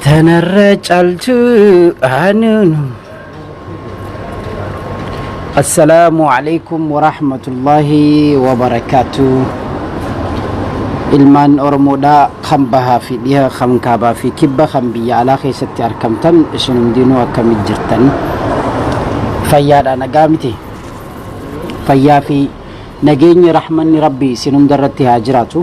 Tanarra caltu anunu. Assalaamu alaikum warahmatullahi wabarakatuh. Ilmaan Oromoodhaa kan bahaa fi dhiha kan kaabaa fi kibba kan biyya alaa keessatti argamtan isin hundinuu akkamit jirtan fayyaadha nagaa miti fayyaa fi nageenyi rahmanni rabbi isin hunda irratti haa jiraatu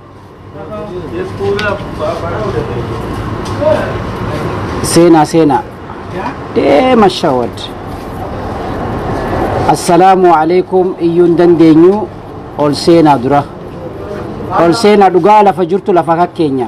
seenaa seenaa deema shawad assalaamu alaikum iyyuun dandeenyu ol seenaa dura ol seenaa dhugaa lafa jirtu lafa kakkeenya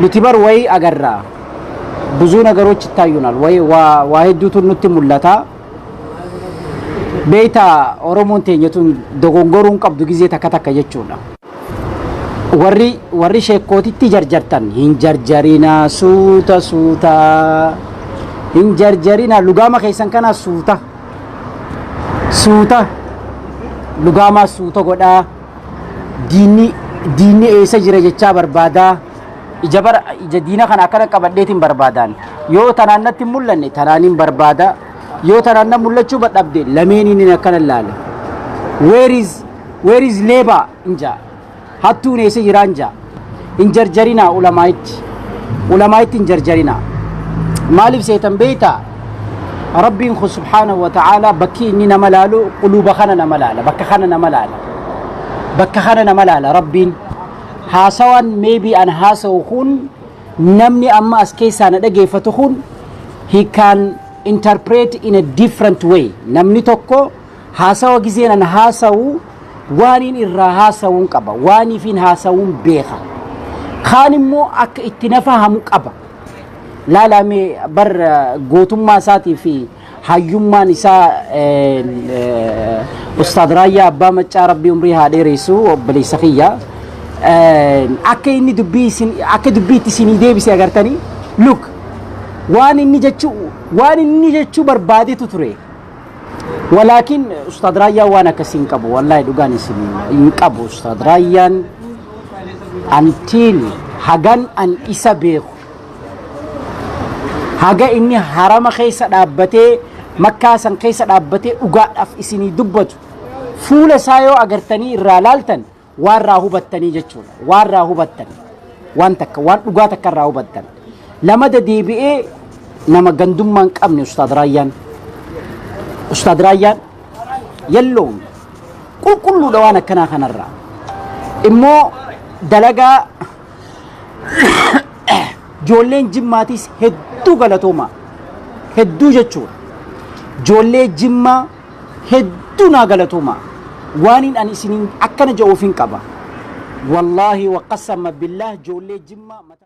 Nuti bar wayii agarra. Buzuu nagarooch ittaayuunaal. Wayii waa waa hedduutu nutti mul'ata. Beeyta Oromoon teenya tun dogongoruu hin qabdu gizee takka takka jechuudha. Warri warri sheekkootitti jarjartan hin jarjarina suuta suuta hin jarjarina lugaama keessan kana suuta suuta lugaamaa suuta godhaa. diinni diinni eessa jira jechaa barbaadaa ija bara ija diina kana akkana qabadheetiin barbaadaan yoo tanaan natti hin mul'anne tanaaniin barbaada yoo tanaan na mul'achuu badhabde lameeniin hin akkana laale where is where is labor inja hattuun eessa jiraan jaa hin jarjarinaa ulamaa'itti ulamaa'itti hin jarjarinaa maaliif seetan beeytaa rabbiin kun subhaanahu wa ta'aalaa bakkii inni nama laalu quluuba kana nama laala bakka kana nama laala bakka kana nama laala rabbiin haasawaan meebii an haasawu kun namni amma as keessaa na dhageeffatu kun he can interpret in a different way namni tokko Haasawa gizeen an haasawu waaniin irraa haasawuun qaba. Waaniifiin haasawuun beeka. Kaan immoo akka itti na fahamu qaba. Laalaamee bar gootummaa isaatii fi hayyummaan isaa Ustaad Raayyaa Abbaa Maccaa Rabbii umrii haa dheeressu obboleessa kiyya. Akka inni dubbii isin akka dubbii itti isinii deebise agartanii look waan inni jechuu waan inni jechuu barbaadetu ture. Walaakin Ustaad Raayyaan waan akkasii hin qabu. Wallaahi dhugaan isin hin qabu. Ustaad Raayyaan antiin hagan an isa beeku. Haga inni harama keessa dhaabbatee makkaa san keessa dhaabbatee dhugaadhaaf isinii dubbatu. Fuula isaa yoo agartanii irraa laaltan Waan irraa hubattanii jechuudha. Waan irraa hubattan. Waan takka waan dhugaa takka irraa hubattan. Lamada deebi'ee nama gandummaa hin qabne Ustaad Raayyaan. Ustaad Raayyaan yalloon qulqulluudha waan akkanaa kanarraa. Immoo dalagaa ijoolleen jimmaatiis hedduu galatoomaa. Hedduu jechuudha. Ijoollee jimmaa hedduu naa galatoomaa waaniin ani isiniin akkana ja'uufin qaba wallaahi waqasama billaah joollee jimmaa